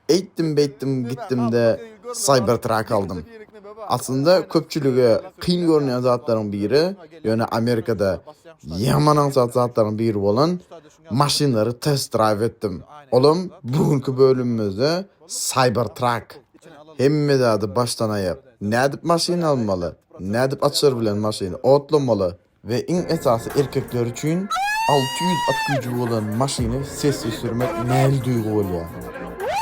Eýtdim beýtdim gitdimde Cybertruck aldym. Aslynda köpçülige kyn görünýän zatlaryň biri, ýöne Amerikada ýaman aňsat zatlaryň biri bolan maşynlary test-drive etdim. Olam bu günki bölümimizde Cybertruck. Hemme zady başdan-aýak, nädip maşyn almaly, nädip açar bilen maşyny otlamaly, we iň esasy erkekler üçin alty ýüz at güýji bolan maşyny sessiz sürmek nähili duýgy bolýar.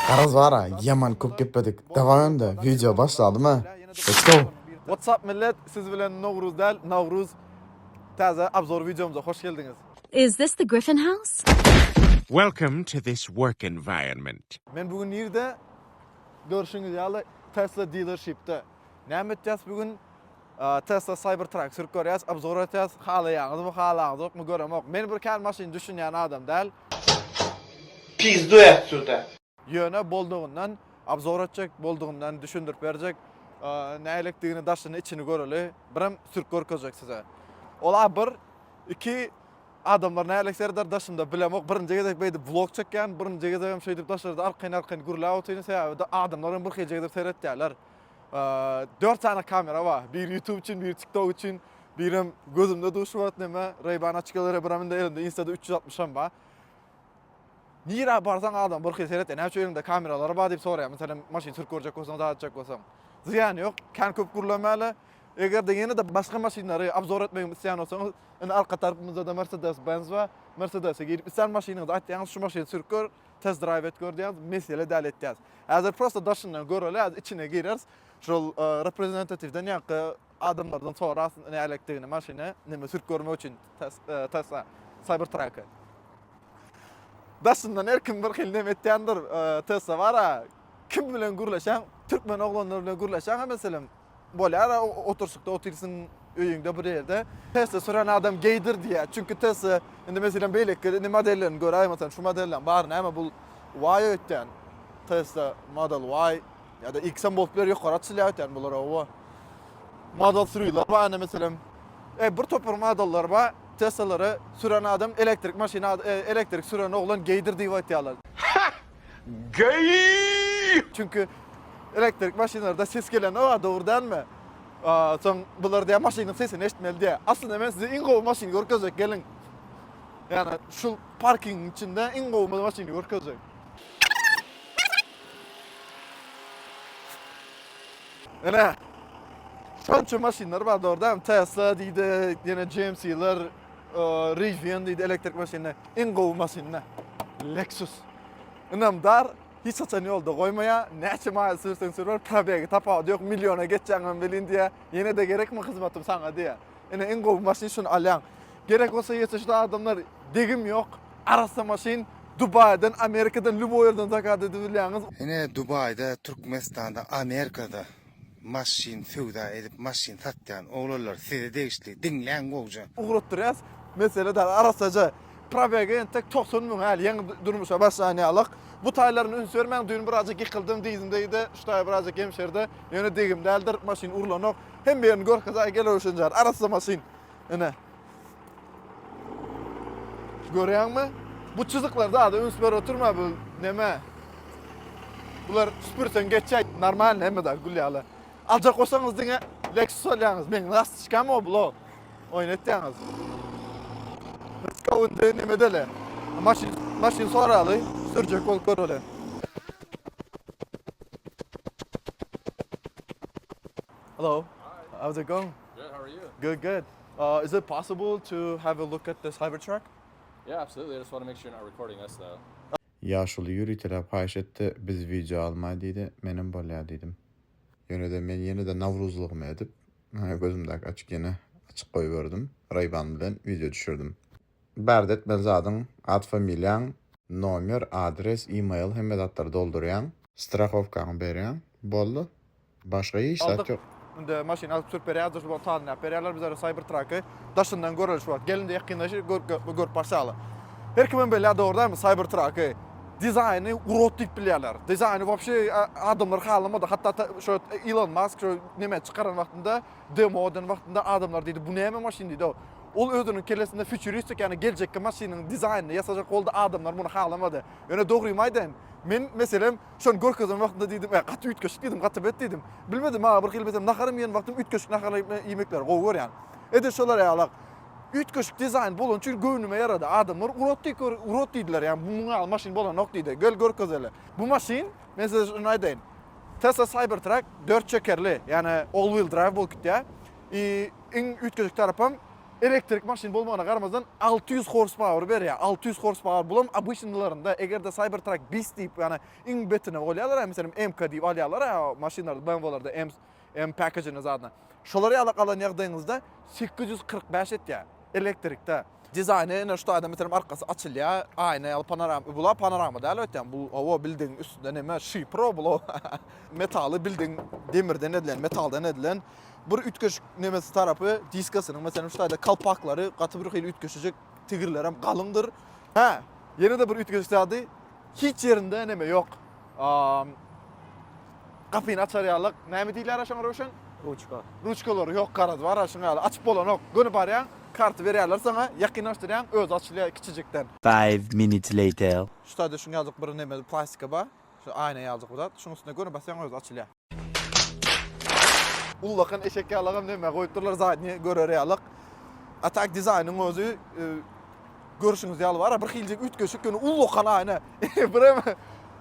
Garaz bara ýaman köp gepledik dawaý onda wideo başladyma let's go. What's up millet siz bilen Nowruz däl Nawruz Täze abzor wideomyza hoş geldiňiz. Is this the Griffin house? Welcome to this work environment. Men bu gün nirde? Görşüňiz ýaly Tesla dealershipde. Näme etýäs bu gün? Tesla Cybertruck sürüp görýäs, obzor etýäs, halaýaňyzmy, halaňyzokmy göremok. Men bir kän maşyn düşünýän adam däl. Pizdu ätdüde. Ýöne boldugyndan obzor etjek, boldugyndan düşündirip berjek. Nälikdigini, daşyny, içini göreli. Birem sürüp görkezjek size. Ol-a bir, iki, adamlar nälik serdar daşynda bilemok. Birinji gezek beýdip vlog çekýän, birinji gezegem şeýdip daşarda arkaýyn-arkaýyn gürläp otyryn. Sebäbi-de adamlar hem birhili gezek seretýärler. Dört sany kamera bar. Bir YouTube üçin, bir TikTok üçin, birem gözümde duşup atyp näme, Ray-Ban açyklary, biram indi elimde Insta-da 360 hem bar. Nirä barsaň adam bir hil seret, näme üçin eliňde kameralary bar diýip soraýar. Meselem, maşyn sürüp görjek bolsaň, zat etjek bolsaň. Zyýany ýok, kän köp gürlemäli. Eger-de ýene-de başga maşynlary obzor etmegimi isleýän bolsaňyz, indi arka tarapymyzda-da Mercedes-Benz bar. Mercedes-e girip, isleýän maşynyňyzy aýtýaňyz, şu maşyny sürüp gör. Test drive et gördüýäňiz mesele däl etýäs. Häzir prosta daşyndan göreli häzir içine gireris. Şol reprezentatiwden ýaňky adamlardan sorarys nälektdigini maşyny neme sürüp görmek üçin test cyber track. Daşyndan her kim bir hil neme etýändir. Test bara kim bilen gürleşen türkmen oglanlar bilen gürleşen meselem Bolýar-a, oturyşykda otyrsyň öýüňde bir ýerde, Tesla süren adam geýdir diýýär. Çünki Tesla, indi meselem beýleki indi modellerini gör, aý, meselem şu modellem bar, näme bul Y öýtýän, Tesla Model Y ýa-da X hem bolup biler, ýokary açylýar öýtýän bular, hawa. Model Three-ler bar indi meselem. E, bir topar modelleri bar, Teslalary süren adam elektrik maşyny, elektrik süren oglan geýdir diýip aýtýarlar. Geý! Çünki elektrik maşynlarda ses gelende wah dogry dälmi? Soň bular diýä maşynyň sesini eşitmeli diýä. Aslynda men size iň gowy maşyny görkezjek geliň. Ýani şu parkingiň içinde iň gowy maşyny görkezjek. Ene. Şonça maşynlar bar dogry dälmi? Tesla diýdik, ýene GMC-ler, Rivian diýdi elektrik maşyny, iň gowy maşynda. Lexus. Ynamdar, hiç haçan ýolda goýmaýa, näçe maýyl sürseň sür bar, probegi tapawudy ýok, milliona geçýäňem welin diýýä, ýene-de gerekmi hyzmatym saňa diýýä. Ine iň gowy maşyn şuny alýaň. Gerek bolsa ýeteşli adamlar degim ýok, arassa maşyn, Dubaýdan, Amerikadan lýuboý ýerden zakaz edibilýäňiz. Ine Dubaýda, Türkmenistanda, Amerikada Maşyn söwda edip maşyn satýan oglanlar size degişli diňläň gowja. Ugratdyrýas mesele dal arassaja. Probegi entek togsan müň häli ýeňi durmuşa başlan ýalyk. Bu taýlaryna üns bermäň düýn birazjyk ýykyldym dyzymda ýedi şu taý birazjyk ýemşerdi ýöne degim däldir maşyn urlanok hemme ýerini görkezaý gel öwşenjar arassa maşyn ine. Görýäňmi? Bu çyzyklar zada üns berip oturma bu näme? Bular süpürseň geçýär. Normalny hemme zat gül ýaly. Aljak bolsaňyz diňe Lexus alýaňyz. Meň gastyçkam o blo. Oýun etýäňiz. Skawundy näme dele. Maşyn maşyn soraly, sürjek bolup göreli. Hello. How's it going? Good, how are you? Good, good. Uh, is it possible to have a look at this hybrid truck? Yeah, absolutely. I just want to make sure you're not recording us, though. Ýaşuly ýöriteläp haýyş etdi, biz wideo almaý diýdi, menem bolýa diýdim. Ýöne-de men ýene-de nawruzlygymy edip, gözümdäki açyk ýene açyk goýberdim, Ray-Ban bilen wideo düşürdim. Bärde etmeli zadyň, at familiýaň, nomer, adres, email hemme zatlary doldurýaň. Strahowkaňy berýäň. Boldy. Başga hiç zat ýok. Indi maşyny alyp sürüp berýäris duşuba talimläp berýärler bizlere Cybertruck-y daşyndan göreliş wagt gelince ýakynlaşy görüp barşaly. Her kimem bilýär dogry dälmi Cybertruck-y dizaýny urot diýip bilýärler. Dizaýny wobşe adamlar halamady hatda şo Elon Musk şo nemä çykaran wagtynda demo eden wagtynda adamlar diýdi bu näme maşyn diýdi-ow. Ol özüniň kellesinde futuristik, ýagny geljekki maşynyň dizaýnyny ýasajak boldy, adamlar muny halamady. Ýöne dogrymy aýdaýyn, men, meselem, şony görkezen wagtynda diýdim, Äý, gaty üýtgeşik diýdim, gaty bet diýdim. Bilmedim, maňa bir gyl betem naharymy iýen wagtym üýtgeşik naharlary iýmekleri gowy görýän. Edil şolar ýalak. Üýtgeşik dizaýn bolany üçin göwnüme ýarady. Adamlar urot diýip gör, urot diýdiler, ýagny bu muňa ýaly maşyn bolanok diýdi. Gel görkezeli. Bu maşyn, men size şuny aýdaýyn, Tesla Cybertruck dört çekerli, ýagny all-wheel drive bolup gitýär. I. Iň üýtgeşik tarapam, elektrik maşyn bolmagyna garamazdan, alty ýüz horspauer berýär. Alty ýüz horspauer, bulam obyçnylarynda, eger-de Cybertruck bis diýip, ýagny iň betine golýarlar-a, meselem, M-ka diýip alýarlar-a, maşynlarda, BMW-lerde, M, M package-ine zadna. Şolar ýaly alan ýagdaýyňyzda sekiz ýüz kyrk bäş etýär, elektrikde. Dizaýny ine şu taýdan meselem arkasy açylýar, aýna ýaly panorama, bula panorama däl öýtýän, bu hawa bildigiň üstünde näme şifr bula metaly bildigiň demirden edilen, metaldan edilen bir üýtgeşik nemesi tarapy diskasynyň meselem şu taýda kalpaklary gaty birhili üýtgeşejek tigirlerem galyňdyr. Hä, ýene-de bir üýtgeşik zady Hiç ýerinde neme ýok. Aam. Gapyny açar ýalyk. Näme diýilýär şoňa Röwşen? Ruçka. Ruçkalary ýok garaz bar a şuňa ýaly açyp bolanok. Göni barýaň, karty berýärler saňa, ýakynlaşdyrýaň, özi açylýar kiçijikden. Five minutes later. Şu taýda şuňa ýalyk bir neme plastika bar. Şu aýna ýalyk bir zat. Şuň üstüne göni basýaň özi açylýar. Ullakan eşek ýalagam näme goýup durlar zadnýe görer ýalak. A tak dizaýnyň özi e, görüşüňiz ýaly bar. Bir hiljik üýtgeşik ýöne ullakan aýna. Bir hem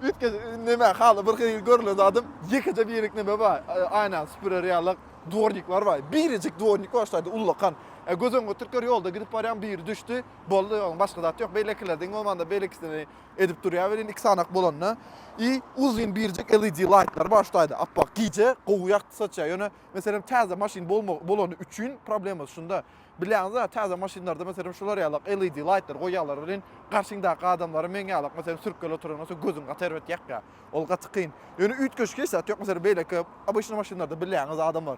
üýtgeş näme haly bir hil görülen zadym ýekeje birlik näme bar. E, aýna süpürer ýalak dwornikler bar. Biricik dwornik bar şaýda ullakan. E, göz öňüňe türkler ýolda gidip barýan biri düşdi. Boldy ýoň başga zat ýok. Beýlekilerden bolmanda beýlekisini Edip durýar welin iki sanak bolanda i uzyn birjik LED laýtlar bar şu taýda appak gije gowy ýagty saçýar ýöne meselem täze maşyn bolma bolany üçin problemasy şunda bilýäňiz a täze maşynlarda meselem şular ýalak LED laýtlar goýýarlar welin garşyňdaky adamlara meň ýalak meselem sürkgeli oturan bolsa gözüň gaty erbet ýakýar ol gaty kyn ýöne üýtgeşik hiç zat ýok meselem beýleki obyçny maşynlarda bilýäňiz adamlar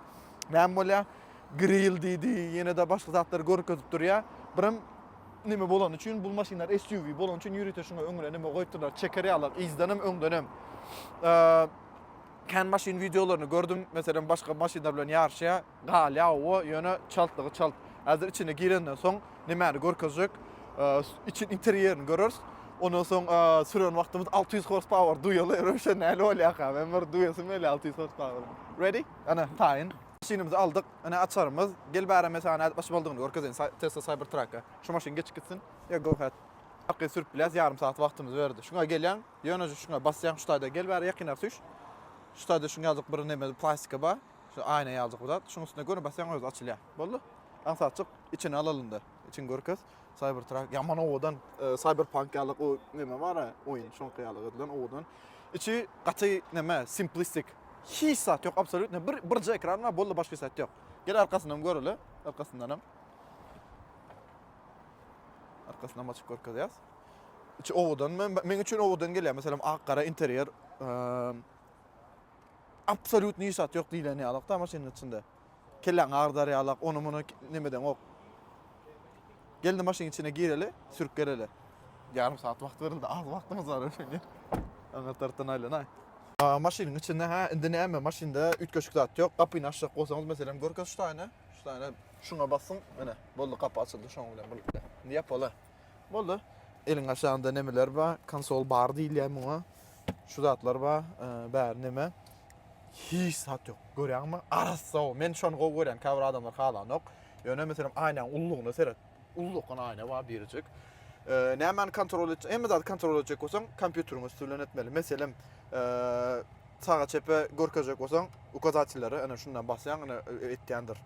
näme bolýar gril diýdi ýene-de başga zatlary görkezip durýar birem Neme bolany üçin bul maşynlar SUV bolany üçin ýörite şuňa öňüne neme goýupdyrlar çeker ýaly yzdanam öňdenem. Kän maşyn wideolaryny gördüm. Meselem başga maşynlar bilen ýaryşýar. Galýa o ýöne çaltlygy çalt. Häzir içine girenden soň nemäni görkezjek. Içi interýerini görers. Ondan soň süren wagtymyz 600 horsepower duýaly erewşe näle bolýaka. Men bir duýasym gelýär 600 horsepower. Ready? Ana taýyn. Maşynymyzy aldyk. Ine açarymyz. Gel bäri men saňa nädip açyp aldygyny görkezeýin Tesla Cybertruck-a. Şu maşyn geçip gitsin. Ýa go ahead. Arkaýyn sürüp bilýäs ýarym sagat wagtymyzy berdi. Şuňa gelýäň, ýöneje şuňa basýaň şu taýda gel bäri ýakynrak süýş. Şu taýda şuň ýaljyk bir neme plastika bar. Şu aýna ýaljyk bir zat. Şuň üstüne göni basýaň özi açylýar. Boldy. Aňsatjyk içini alalynda. Içini görkez. Cybertruck ýaman owadan e, Cyberpunk ýaly o neme bar ya oýun şoňky ýaly edilen owadan. Içi gaty neme simplistik. Hiç zat ýok absolýutno bir birje ekran bar boldy başga zat ýok. Gel arkasyny hem göreli. Arkasyndan hem. Arkasyndan açyp görkezýäs. Içi owadan men men üçin owadan gelýär. Meselem ak gara interýer. Ehm, Absolýutno hiç zat ýok diýlen ýalykda maşynyň içinde. Kelläňi agdarýarlak, ony-muny nemedeňok. Gelni maşynyň içine gireli, sürüp geleli. Ýarym sagat wagt berildi, az wagtymyz bar öýlenýär. Aňa tarapdan aýlanaý. Maşynyň içinde, hä, indi näme, maşynda üýtgeşik zat ýok. Gapyny açjak bolsaňyz, meselem, görkez şu taýyny, şu taýyny şuňa basyň, ine, boldy, gapy açyldy şoň bilen birlikde. Indi ýapala. Boldy. Eliň aşagynda nemeler ba? Konsol bar diýilýär muňa. Şu zatlar ba, bäri neme? Hiç zat ýok. Görýäňmi? Arassa o. Men şony gowy görýän, käbir adamlar halanok. Ýöne meselem aýnaň ullugyna seret. Ullukgyn aýna ba birjik. Nämäni kontrol etjek? Hemme zady kontrol etjek bolsaň, kompýuteriň üsti bilen etmeli. Meselem, Saga çepe görkezjek bolsaň ukazatellere ene şundan basýaň ene etýändir.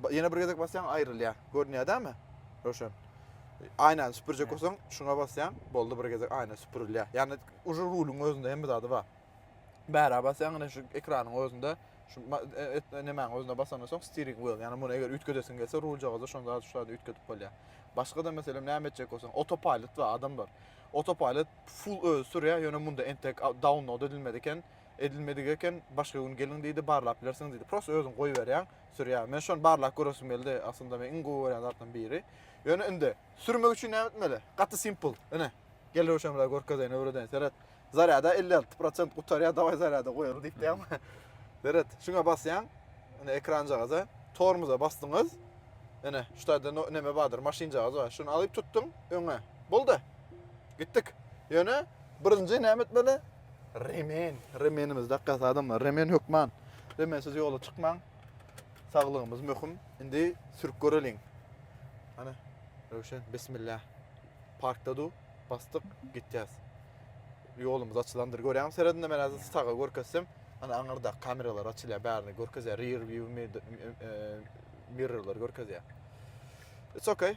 Ýene bir gezek basýaň aýrylýar. Görünýär dämi? Roşen. Aýnany süpürjek bolsaň şuna basýaň boldy bir gezek aýna süpürilýär. Ýani uje ruluň özünde hemme zady bar. Bära basýaň ene şu ekranyň özünde şu nemäň özüne basandan soň steering wheel ýani muny eger üýtgedesiň gelse ruljagaza şonda şu zady üýtgedip bolýar. Başga da meselem näme etjek bolsaň autopilot bar adamlar. Autopilot Full özi sürýär, ýöne munda entek download edilmedi eken, edilmedik eken, başga gün geliň diýdi, barlap bilersiňiz diýdi. Prosta özüň goýberýäň, sürýär. Men şony barlap göresim geldi, aslynda men iň gowy görýän zatlaryň biri. Ýöne indi sürmek üçin näme etmeli? Gaty simple. Ine, gel Röwşen biraz görkezeýin, öwredeýin, seret. Zarýada elli alty prosent gutarýar, dawaý zarýada goýaly diýip diýýärmi? Seret, şuňa basýaň, ine ekranjagaza, tormoza basdyňyz, ine şu taýda neme bardyr, maşynjagaz bar, şuny alyp tutduň öňe, boldy. Gitdik. Ýöne birinji näme etmeli? Remen. Remenimizi dakýas adamlar. Remen hökman. Remensiz ýola çykmaň. Saglygymyz möhüm. Indi sürüp göreliň. Ana, Röwşen, bismillah. Parkda du, basdyk, gitýäs. Ýolumyz açylandyr. Görýäňmi seredinde men häzir saga görkezsem, ana aňyrda kameralar açylýar, bärini görkezýär. Rear view e, e, mirrorlar görkezýär. It's okay.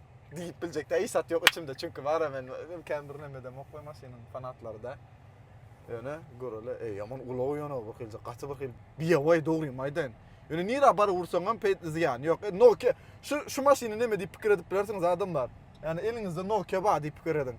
Diýip biljek de iş zat ýok içimde. Çünki bara men özüm kän bir näme demok we maşynyň fanatlary da. Ýöne görele, eý ýaman ulag ýöne bir hilje gaty bir hil. Biýewaý dogrymy aýdaýyn. Ýöne nira bar ursaň hem peýt zyýany ýok. E, Nokia şu şu maşyny näme diýip pikir edip bilersiňiz adamlar. Ýani eliňizde Nokia bar diýip pikir ediň.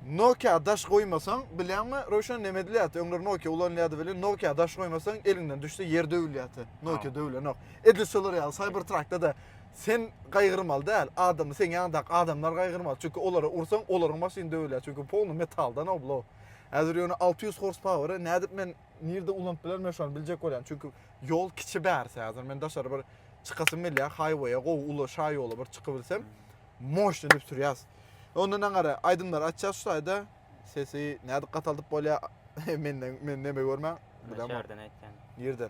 Nokia daş goýmasaň, bilýäňmi, Röwşen näme edilýärdi? Öňler Nokia ulanylýardy welin, Nokia daş goýmasaň, eliňden düşse ýer döwülýärdi. Nokia döwülenok. Edil şolar ýaly Cybertruck-da da Sen gaýgyrmaly däl, adamy seň ýanyňdaky adamlar gaýgyrmaly, çünki olara ursaň olaryň maşyny döwülýär, çünki polny metaldan oblo. Häzir ýöne alty ýüz horspaweri nädip men nirde ulanyp bilerin men şony biljek bolýan, çünki ýol kiçi bärsi häzir men daşary bir çykasym gelýär haýweýe gowy uly şaýola bir çykybilsem moşny edip sürýäs. Ondan aňary aýdymlary açýas şu taýda sesi nädip gataldyp bolýar menden meni neme görmäň. Näçe ýerden aýtýaň? Nirden?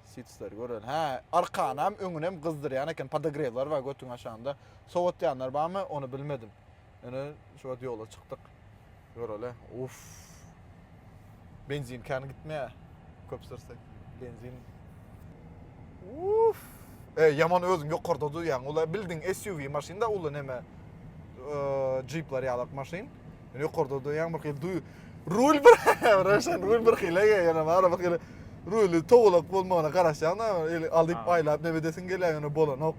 Sitsler gören. Hä, arkanam, öňünem gyzdyrýan eken. Podogrewler bar götüň aşagynda. Sowatýanlar barmy, ony bilmedim. Ýöne şu wagt ýola çykdyk. Göreli. Uff. Benzin kän gitmeýär. Köp sürsek. Benzin. Uff. E, ýaman özüň ýokarda duýýaň. Ula bildiň SUV maşyn da uly neme. Eee, jipler ýalak maşyn. Ýokarda oturýan bir hili duý. Rul bir, Röşen rul bir hili, ýene bar bir hili. Ruly towlak bolmagyna garaşýan da, eli alyp Ha. aýlap ne edesiň gelýär, ýöne bolanok.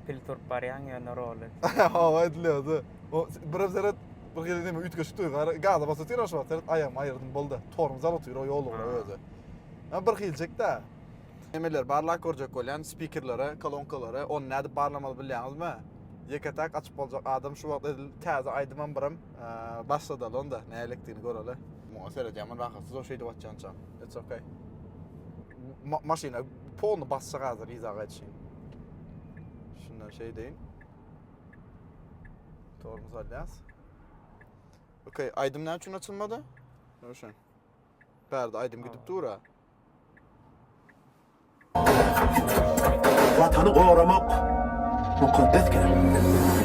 Pil turup barýaň ýöne roly. Hawa edilýärdi. O birem seret bir hili neme üýtgeşik duýgy. Ara gaza basy otyr şu wagt seret aýagymy aýyrdym boldy. Tormoz alyp otyr o ýol ugra Ha. özi. Ha bir hiljek-de. Nämeleri barlap görjek bolýan? Spikerleri, kolonkalary, ony nädip barlamaly bilýäňizmi? Ýeke-täk açyp boljak adam şu wagt edil täze aýdymam birim başladaly onda nälikdigini göreli. Muňa seredýän men rahatsyz o şeýdip atýança. It's okay. Maşyna polny basjak hazir yza gaýtşyn. Şundan şeýdeýin. Tormuz alýas. Okay, aýdym näme üçin açylmady? Nuşan. Bärde aýdym gidip dur-a. Watany goramak mukaddes gerek.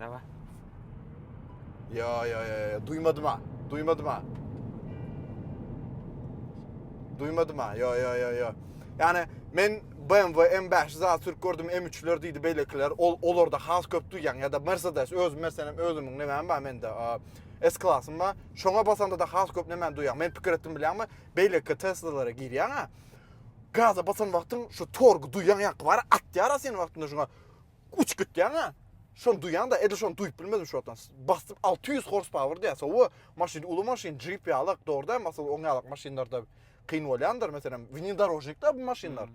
Dawa. Ya ya ya duymadım ha. Duymadım ha. Duymadım ha. Ya ya ya ya. Yani men BMW M5 za Türk gördüm M3'ler diýdi beýlekiler. Ol olarda has köp duýýan ya da Mercedes öz meselem özümiň näme bar mende. S klasym bar. Şoňa basanda da has köp näme duýýan. Men pikir etdim bilýärmi? Beýleki Teslalara girýän ha. Gaza basan wagtyň şu torgu duýýan ýaky bar atýar sen wagtynda şuňa. Uçgitýäňä şony duýaňda edil şony duýup bilmedim şu wagtam. Basyp 600 horsepower diýýär. Sowa maşyn uly maşyn jeep ýalak dogruda masalan oň ýalak maşynlarda kyn bolýandyr meselem winidorožnikda bu maşynlar.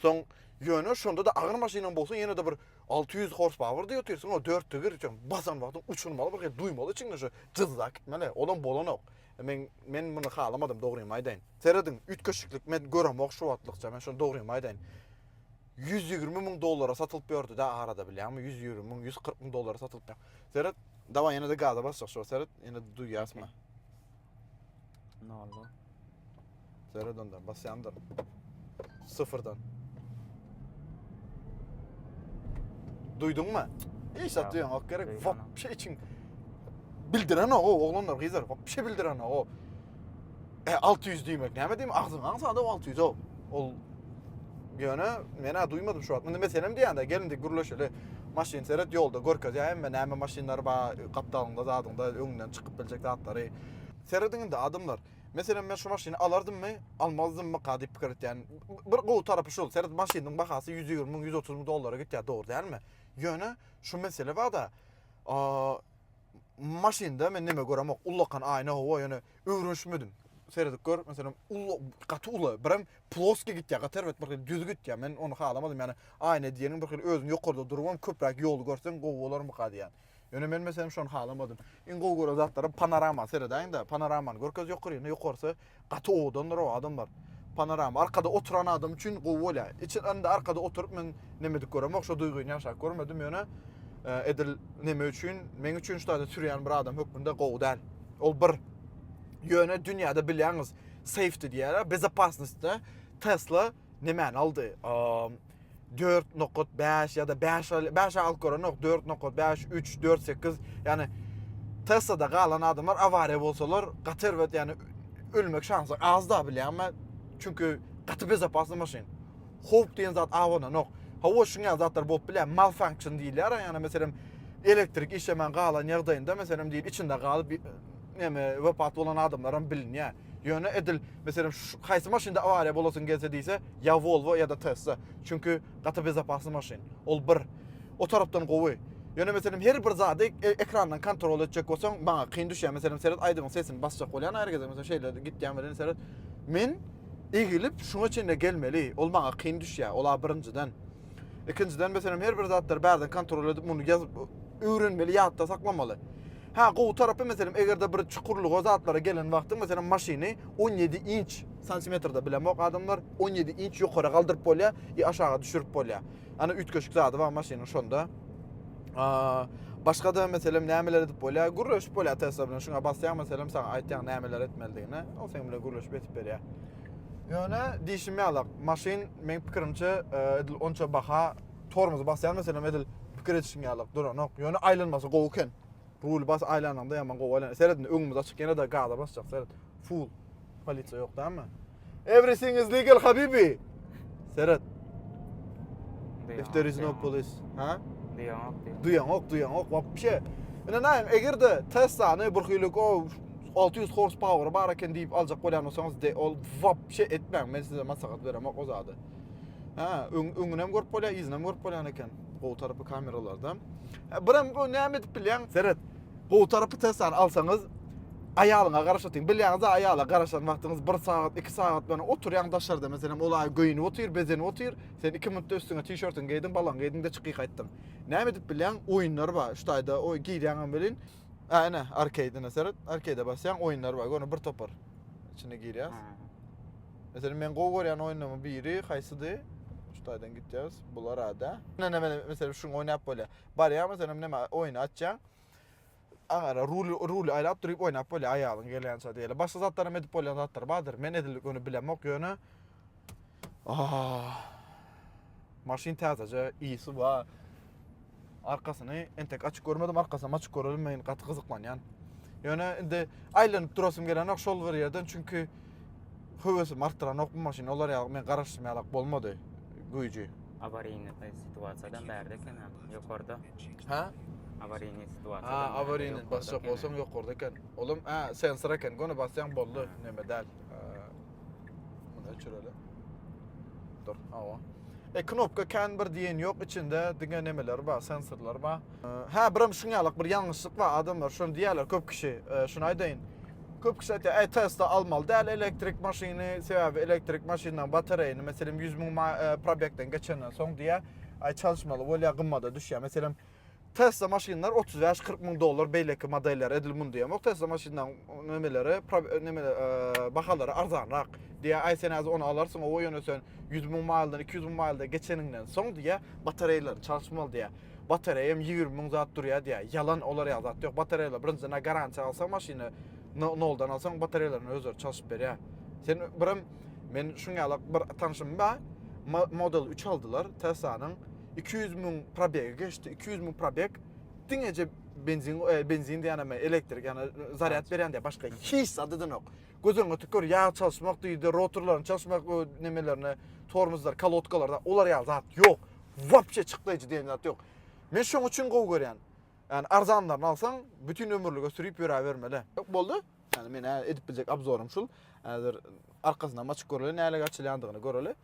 Soň ýöne şonda da agyr maşynyň bolsa ýene de bir 600 horsepower diýip otyrsyň o 4 tigir üçin basan wagtyň uçurmaly bir hil duýmaly içiňde şu jyzzak gitmeli olam bolanok. E, men men muny halamadym dogrymy aýdaýyn. Serediň üýtgeşiklik men göremok şu wagtlykça men şony dogrymy aýdaýyn. 100 ýigrimi müň dollara satylyp ýördüdä arada bilýäňmi ýüz ýigrimi müň ýüz kyrk müň dollara satylyp ýör seret dawaý ýene de gaza basjak şo seret ýene duýýasmy nolda seret onda basýandyr sıfırdan duýduňmy hiç zat duýan ok gerek wopşe içiň bildiren o oglanlar gyzlar wopşe bildiren o E 600 diýmek näme diýmek? Agzyň aňsada 600 o. Ol ýöne men ha duýmadym şu wagt. Munda meselem diýende gelin dik gürleşeli. Maşyn seret ýolda görkezýär hemme näme maşynlar bar, gapdalyňda, zadyňda, öňünden çykyp biljek zatlary. Serediň indi adamlar. Meselem men şu maşyny alardymmy, almazdymmy ka diýip pikir etýän. Bir gowy tarapy şul, seret maşynyň bahasy 120 müň, 130 müň dollara gitýär, dogry dälmi? Ýöne şu mesele bada, maşynda men neme göremok, ullakan aýna, howa ýöne öwrenişmedim. Seredip gör, meselem, uly, gaty uly, birem ploski gitýär, gaty erbet bir hili düz gitýär. Men ony halamadym, ýani aýna diýeniň bir hili özüň ýokarda durubam köpräk ýoly görseň gowy bolarmyka diýýän. Ýöne men meselem şony halamadym. Iň gowy gören zatlarym panorama seredäýiň-de, panoramany görkez ýokaryny, ýokarsy gaty owadandyr o adamlar. Panorama arkada oturan adam üçin gowy bolýar. Içi indi arkada oturyp men nemedik göremok, şo duýgyny ýaşap görmedim, ýöne edil neme üçin, meň üçin şutada sürýän bir adam hökmünde gowy däl. Ol bir. Ýöne dünýäde bilýäňiz, safety diýýärler, bezopasnostda Tesla nemäni aldy? dört nokat bäş ýa-da bäş bäş alyp görenok, dört nokat bäş, üç, dört, sekiz, ýani TSA-da galan adamlar awariýa bolsalar, gaty erbet, ýani ölmek şansy az da bilýän men. Çünki gaty bezapasly maşyn. Howp diýen zat abananok. Hawa, şuňa zatlar bolup bilýär. Malfunction diýilýär, ýani meselem elektrik işlemän galan ýagdaýynda meselem diýip içinde galyp näme wepat bolan adamlar hem bilinýär. Ýöne edil, meselem, haýsy maşynda awariýa bolasyň gelse diýse, ýa Volvo, ýa-da Tesla. Çünki gaty bezopasny maşyn. Ol bir. O tarapdan gowy. Ýöne, meselem, her bir zady e, ekrandan kontrol etjek bolsaň, maňa kyn düşýär. Meselem, seret, aýdybyň sesini basjak bolýan her gezek. Meselem, şeýle gitýän bilen seret. Men egilip şuňa çenli gelmeli. Ol maňa kyn düşýär. Ola birinjiden. Ikinjiden, meselem, her bir zatlary bärden kontrol edip, muny ýazyp öwrenmeli, ýatda saklamaly. Hä, gowy tarapy, meselem, eger-de bir çukurlyga, zatlara gelen wagty, meselem, maşyny on ýedi inç, santimetr-de bilemok adamlar, on ýedi inç ýokara galdyryp bolýar i aşaga düşürip bolýar. Ana, üýtgeşik zady bar maşynyň şonda. Başga-da, meselem, nämeler edip bolýar? Gürleşip bolýar Tesla bilen. Şuňa basýaň, meselem, saňa aýtýar nämeler etmelidigini. Ol seň bilen gürleşip edip berýär. Ýöne diýşim ýalak, maşyn, meň pikirimçe, edil onça baha tormozy basýan meselem edil pikir edişiň ýalyk duranok. Ýöne aýlanmasy gowy eken. Ruly bas aýlananda ýaman gowy aýlan. Seret indi öňümiz açyk ýene de gaza basjak seret. Full. Polisiýa ýok dämi? Everything is legal habibi. Seret. If there is no police. Ha? Duýaňok, duýaňok. Duýaňok, duýaňok. Wapşe. Ine näme, eger de Tesla-ny bir hylyk o 600 horsepower bar eken diýip aljak bolýan bolsaňyz, de ol wapşe etmäň. Men size maslahat beremok o zady. Ha, öň öňünem görüp bolýar, yzynyam görüp bolýan eken. Gowy tarapy kameralarda. Birem bu näme edip bilýän? Seret. Gowy tarapy tessan alsaňyz aýalyňa garaşatyň. Bilýäňiz, aýala garaşan wagtyňyz 1 sagat, 2 sagat bilen oturýaň daşarda meselem, ol aýy göýnüp otyr, bezenip otyr. Sen 2 minutda üstüňe tişörtiňi geýdiň, balaň geýdiň-de çykyp gaýtdyň. Näme edip bilýäň? Oýunlar bar. Şu taýda o girýäňem welin, a ene arkeýdine seret. Arkeýde basýaň, oýunlar bar. Gör, bir topar içine girýäs. Meselem men gowy görýän oýunlaryň biri haýsydy? Şu taýdan gitýäris. Bular ada. Näme näme meselem şuny oýnap bolýar. Barýar meselem näme oýny açýaň. Aňara rul rul aýlap durup oýnap bolýar aýalyň gelýänçä diýeli. Başga zatlar hem edip bolýan zatlar bardyr. Men edil göni bilemok ýöne. Ah. Maşyn täzeje, ýyýsi bar. Arkasyny entek açyk görmedim, arkasyny açyk görelim men gaty gyzyklanýan. Ýöne indi aýlanyp durasym gelenok şol bir ýerden çünki höwesimi artdyranok bu maşyn olar ýaly men garaşdym ýalak bolmady güýji. Awaryny situasiýadan bärde eken ha, ýokarda. Ha? Awaryny situasiýa. Ha, awaryny basjak bolsaň ýokarda eken. Olam ha sensor eken, göni basýaň boldy, neme däl. Bunu öçürelim. Dur, awa. E, knopka kän bir diýen ýok, içinde diňe nemeler bar, sensorlar bar. Hä, bir hem şuň ýalyk bir ýalňyşlyk bar, adamlar şuny diýýärler köp kişi, e, şuny aýdaýyn. Köp kişi aýtýar, e, Tesla almaly däl elektrik maşyny, sebäbi elektrik maşynlaryň batareýini, meselem, 100 müň e, probekden geçenden soň diýýär, aý çalyşmaly bolýar, gymmada düşýär. Meselem, Tesla maşynlar otuz bäş kyrk müň dollar beýleki modelleri edil mundaýam ýok Tesla maşynlaryň nemeleri bahalary arzanrak diýýär aý sen häzir ony alarsyň owo ýöne sen ýüz müň maýldan iki ýüz müň maýlda geçeniňden soň diýýär batareýalaryny çalyşmaly diýýär batareýam ýigrimi müň zat durýar diýýär ýalan olar ýaly zat ýok batareýalar birinjiden a garantiýa alsaň maşyny noldan alsaň batareýalaryny özleri çalyşyp berýär sen birem men şuň ýaly bir tanşym bar model üç aldylar teslanyň iki ýüz müň probegi geçdi, iki ýüz müň probeg diňeje benzin, e, benzin diýen ama elektrik, yani zaryat berýän diýen başga hiç zady da yok. Gözüň ötüp gör, yağ çalışmak diýdi, rotorlaryny çalışmak nemelerine, tormozlar, kolodkalarda, olar ýaly zat yok. Vapçe çyklayıcı diýen zat yok. Men şoň üçin gowy görýän. Yani arzanlaryny alsaň, bütün ömürlige sürüp ýöre bermeli. Yok boldy. Yani men edip biljek abzorym şul. Hazır arkasyndan açyk göreli, näle açylýandygyny göreli.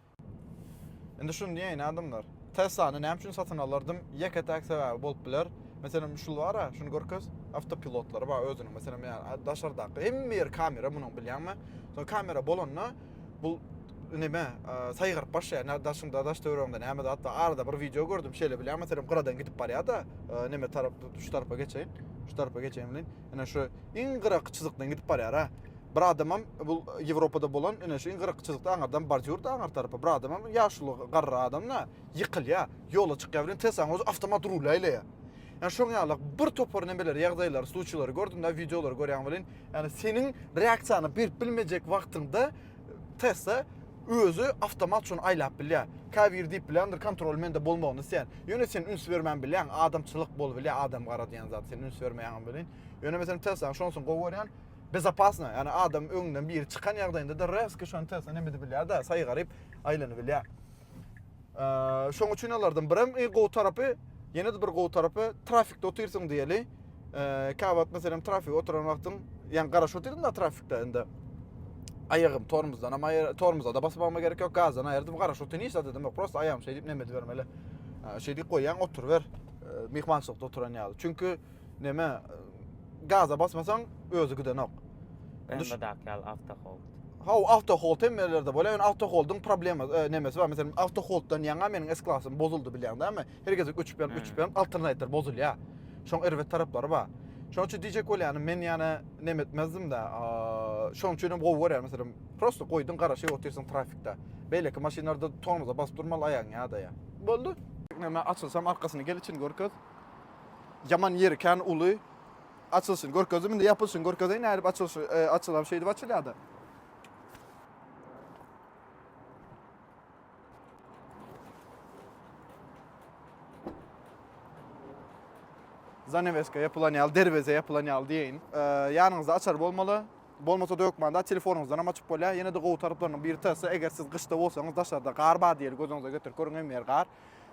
Indi şuny diýäýin adamlar. Teslany näme üçin satyn alardym? Ýeke-täk sebäbi bolup biler. Meselem, şul bar-a, şuny görkez. Awtopilotlary bar özüniň. Meselem, ýa daşardaky hemme ýeri kamera munuň bilýäňmi? Soň kamera bolanda bu neme, saýgaryp başlaýar. Nä daşyňda, daş-töweregiňde näme zat bar? Arada bir wideo gördüm, şeýle bilýän, meselem, gyradan gidip barýar-da, neme tarap, şu tarapa geçeýin, şu tarapa geçeýin welin, Ine şu iň gyraky çyzykdan gidip barýar ha. Bir adamam bu Ýewropada bolan ine şu iň gyraky çyzykda aňyrdan bordýur da aňyr tarapa. Bir adamam ýaşuly garry adam da ýykylýar. Ýola çykýar bilen Teslanyň özi awtomat rul aýlaýar. Ýa şoň ýaly bir topar nemeleri, ýagdaýlary, sluçýlary gördüm da, wideolary görýän welin, ýani seniň reaksiýany berip bilmejek wagtyňda Tesla özi awtomat şony aýlap bilýär. Käbiri diýip bilýändir, kontroly mende bolmagyny isleýän. Ýöne sen üns bermän bilýäň, adamçylyk bol bilýär, adam gara diýen zat, sen üns bermeýäňem welin. Ýöne meselem Tesla şonusyn gowy görýän, bezopasno, ýagny adam öňünden biri çykan ýagdaýynda-da rezki şony Tesla neme edip bilýär-de, saýgaryp aýlanyp bilýär. Şoň üçin alardan bir hem e, gowy tarapy, ýene de bir gowy tarapy trafikde otyrsyň diýeli. Kabat meselem trafik oturan wagtyň, ýani garaşyp otyrsyň da trafikde indi. Aýagym tormozdan ama tormoza da basyp alma gerek ýok, gazdan aýyrdyp garaşyp otyryn hiç zat edemok. Prosta aýagym şeýdip neme edibermeli. Şeýdip goýýan oturyber. Mehmançylykda oturan ýaly. Çünki neme gaza basmasaň özü gidenok. BMW-daki ýaly awtohold. Haw, awtohold hem ýerlerde bolýar. Ýöne awtoholdyň problema e, nemesi bar. Meselem, awtoholddan ýaňa meniň S-klasym bozuldy bilýäňdämi? Her gezek öçüp ýaryp, öçüp ýaryp, alternator bozulýar. Şoň erbet taraplary bar. Şoň üçin diýjek bolýanym, men ýana neme etmezdim-de, şoň üçin hem gowy görýän, meselem, prosta goýduň, garaşyp otyrsyň trafikde. Beýleki maşynlarda tormoza basyp durmaly aýagyň ýadaýar. Boldy. Neme açylsam arkasyny gel içini görkez. Ýaman ýeri kän uly. Açylyşyny görkezdim. Indi ýapylyşyny görkezeýin. Nädip açylyşy e, açylar şeýdip açylýar-da. Zaneweska ýapylan ýaly, derweze ýapylan ýaly diýeýin. E, ýanyňyzda açar bolmaly. Bolmasa dökmanda telefonyňyzdan hem açyp bolýar. Ýene-de gowy taraplarynyň biri tasa, eger siz gyşda bolsaňyz daşarda gar bar diýeli gözüňize getirip görüň hem ýer gar.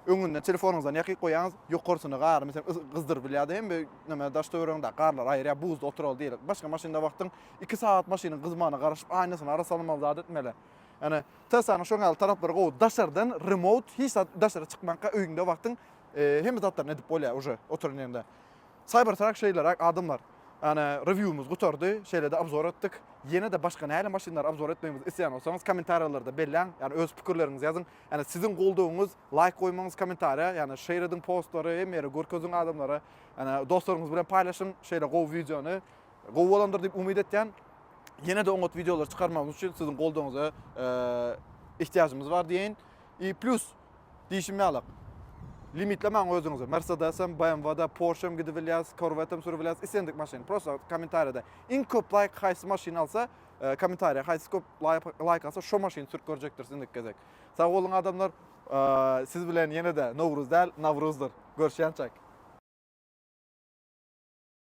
Öňünden telefonyňyzdan ýakyk goýaňyz, ýokarsyny gary meselem yz gyzdyryp bilýär hem bir näme daş töweregiňdäki garlary aýyrýar, buzda oturaly diýeli. Başga maşynda wagtyň iki sagat maşynyň gyzmagyna garaşyp, aýnasyny ara salmaly zat etmeli. Ýani Teslanyň şoň ýaly taraplary gowy, daşardan remote hiç zat daşara çykmanka öýüňde wagtyň hemme zatlaryny edip bolýar uje oturan ýeriňde. Cybertruck şeýleräk adamlar. Ýani rewiwimiz gutardy, şeýlede obzor etdik. Ýene-de başga nähili maşynlary obzor etmegimizi isleýän bolsaňyz kommentariýalarda belläň, ýani öz pikirleriňizi ýazyň. Ýani siziň goldawyňyz laýk goýmaňyz komentariýa ýani şeýr ediň postlary hemme ýere görkeziň adamlara ýani dostlaryňyz bilen paýlaşyň şeýle gowy wideony gowy bolandyr diýip umyt etýän ýene-de oňat wideolar çykarmagymyz üçin siziň goldawyňyza ihtiýajymyz bar diýeýin i plýus diýşim ýalak limitlemäň özüňizi mersedesem BMW-da Porsche-em gidip bilýäs Corvette-em sürüp bilýäs islendik maşyn prosta komentariýada iň köp laýk haýsy maşyn alsa E, Komentariýa haýsy köp laýk alsa şo maşyny sürüp görjekdiris indiki gezek. Sag boluň adamlar. E, siz bilen ýene-de Nowruz däl, Nawruzdyr. Görşýänçäk.